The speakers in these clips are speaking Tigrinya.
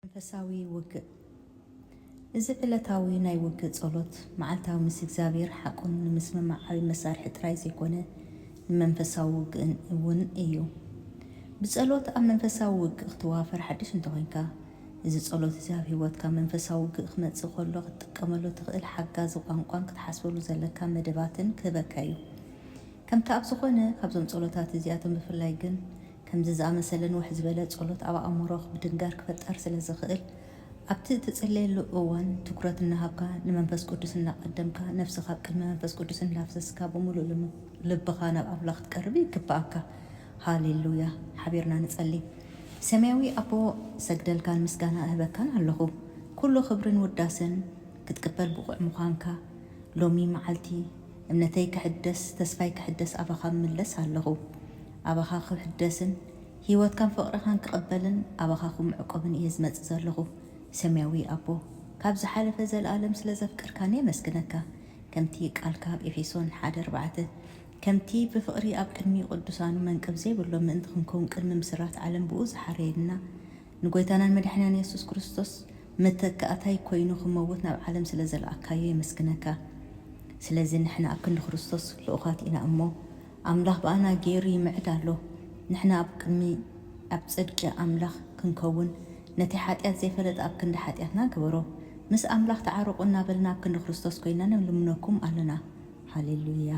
መንፈሳዊ ውግእ፣ እዚ ዕለታዊ ናይ ውግእ ጸሎት፣ መዓልታዊ ምስ እግዚኣብሔር ሓቁን ንምስምማዕ ዓቢ መሳርሒ ጥራይ ዘይኮነ፣ ንመንፈሳዊ ውግእን እውን እዩ። ብጸሎት ኣብ መንፈሳዊ ውግእ ክትዋፈር ሓድሽ እንተኾይንካ፣ እዚ ጸሎት እዚ ኣብ ሕይወትካ መንፈሳዊ ውግእ ክመጽእ ከሎ ክትጥቀመሉ እትኽእል ሓጋዚ ቋንቋን ክትሓስበሉ ዘለካ መደባትን ክህበካ እዩ። ከምቲ ኣብ ዝኾነ ካብዞም ጸሎታት እዚኣቶም ብፍላይ ግን ከምዚ ዝኣመሰለ ንውሕ ዝበለ ጸሎት ኣብ ኣእምሮኽ ምድንጋር ክፈጠር ስለ ዝኽእል፣ ኣብቲ እትጽልየሉ እዋን ትኵረት እናሃብካ፣ ንመንፈስ ቅዱስ እናቐደምካ፣ ነፍስኻ ኣብ ቅድሚ መንፈስ ቅዱስ እናፍሰስካ ብምሉእ ልብኻ ናብ ኣምላኽ ክትቀርብ ይግብኣካ። ሃሌ ሉያ! ሓቢርና ንጸሊ። ሰማያዊ ኣቦ፣ እሰግደልካን ምስጋና እህበካን ኣለኹ። ኵሉ ክብርን ውዳሰን ክትቅበል ብቑዕ ምዃንካ። ሎሚ መዓልቲ፣ እምነተይ ክሕደስ፣ ተስፋይ ክሕደስ ኣባኻ እምለስ ኣለኹ። ኣባኻ ክሕደስን ህይወትካን ፍቕርኻን ክቕበልን ኣባኻ ክምዕቆብን እየ ዝመጽእ ዘለኹ። ሰማያዊ ኣቦ፣ ካብ ዝሓለፈ ዘለኣለም ስለ ዘፍቀርካኒ የመስግነካ። ከምቲ ቃልካ ኣብ ኤፌሶን ሓደ ኣርባዕተ፣ ከምቲ ብፍቕሪ ኣብ ቅድሚ ቅዱሳኑ መንቅብ ዘይብሎም ምእንቲ ክንከውን ቅድሚ ምስራት ዓለም ብእኡ ዝሓረየልና፣ ንጐይታናን መድሓኒናን የሱስ ክርስቶስ መተካእታይ ኰይኑ ክመውት ናብ ዓለም ስለ ዘልኣካዮ የመስግነካ። ስለዚ ንሕና ኣብ ክንዲ ክርስቶስ ልኡኻት ኢና እሞ፣ ኣምላኽ ብኣና ገይሩ ይምዕድ ኣሎ። ንሕና ኣብ ቅድሚ ኣብ ጽድቂ ኣምላኽ ክንከውን ነቲ ሓጢኣት ዘይፈለጠ ኣብ ክንዲ ሓጢኣትና ገበሮ። ምስ ኣምላኽ ተዓረቁ እናበልና ኣብ ክንዲ ክርስቶስ ኮይና ንልምነኩም ኣሎና። ሃሌሉያ!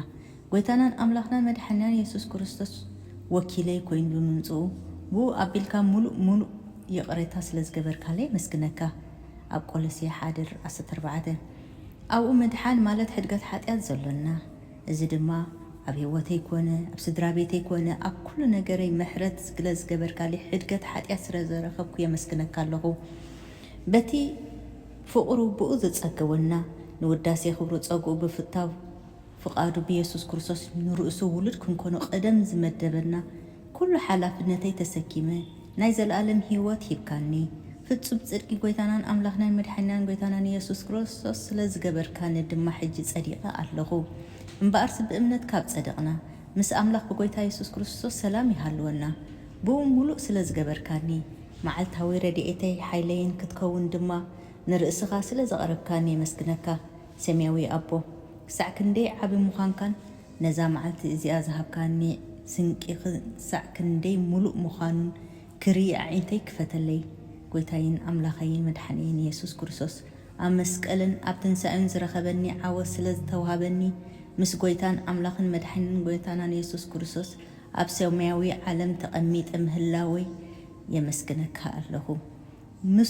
ጎይታናን ኣምላኽናን መድሓኒናን የሱስ ክርስቶስ ወኪለይ ኮይኑ ብምምጽኡ ብኡ ኣቢልካ ምሉእ ምሉእ ይቕሬታ ስለ ዝገበርካለይ የመስግነካ። ኣብ ቆሎሴ ሓደ ር ዓሰርተ ኣርባዕተ ኣብኡ ምድሓን ማለት ሕድገት ሓጢኣት ዘሎና። እዚ ድማ ኣብ ህይወተይ ኮነ ኣብ ስድራ ቤተይ ኮነ ኣብ ኩሉ ነገረይ ምሕረት ስግለ ዝገበርካልይ ሕድገት ሓጥያት ስረ ዘረከብኩ የመስግነካ ኣለኩ በቲ ፍቅሩ ብኡ ዘጸገወና ንውዳሴ ክብሩ ጸግኡ ብፍታው ፍቃዱ ብየሱስ ክርስቶስ ንርእሱ ውሉድ ክንኮኖ ቀደም ዝመደበና ኩሉ ሓላፍነተይ ተሰኪመ ናይ ዘልኣለም ሂወት ሂብካኒ ፍጹም ጽድቂ ጎይታናን ኣምላኽናን መድሓኒናን ጎይታናን ኢየሱስ ክሮስቶስ ስለ ዝገበርካኒ ድማ ሕጂ ጸዲቀ ኣለኹ እምበኣርሲ ብእምነት ካብ ጸደቅና ምስ ኣምላኽ ብጎይታ ኢየሱስ ክርስቶስ ሰላም ይሃልወና ብኡ ሙሉእ ስለ ዝገበርካኒ መዓልታዊ ረድኤተይ ሓይለይን ክትከውን ድማ ንርእስኻ ስለ ዘቅረብካኒ የመስግነካ ሰምያዊ ኣቦ ክሳዕ ክንደይ ዓቢ ምዃንካን ነዛ መዓልቲ እዚኣ ዝሃብካኒ ስንቂ ክሳዕ ክንደይ ምሉእ ምዃኑ ክርኢ ኣዒንተይ ክፈተለይ። ጐይታይን ኣምላኸይን መድሓኒይን የሱስ ክርስቶስ ኣብ መስቀልን ኣብ ትንሳኤኡን ዝረኸበኒ ዓወት ስለ ዝተዋህበኒ ምስ ጐይታን ኣምላኽን መድሓኒን ጐይታናን የሱስ ክርስቶስ ኣብ ሰማያዊ ዓለም ተቐሚጠ ምህላወይ የመስግነካ ኣለኹ። ምስ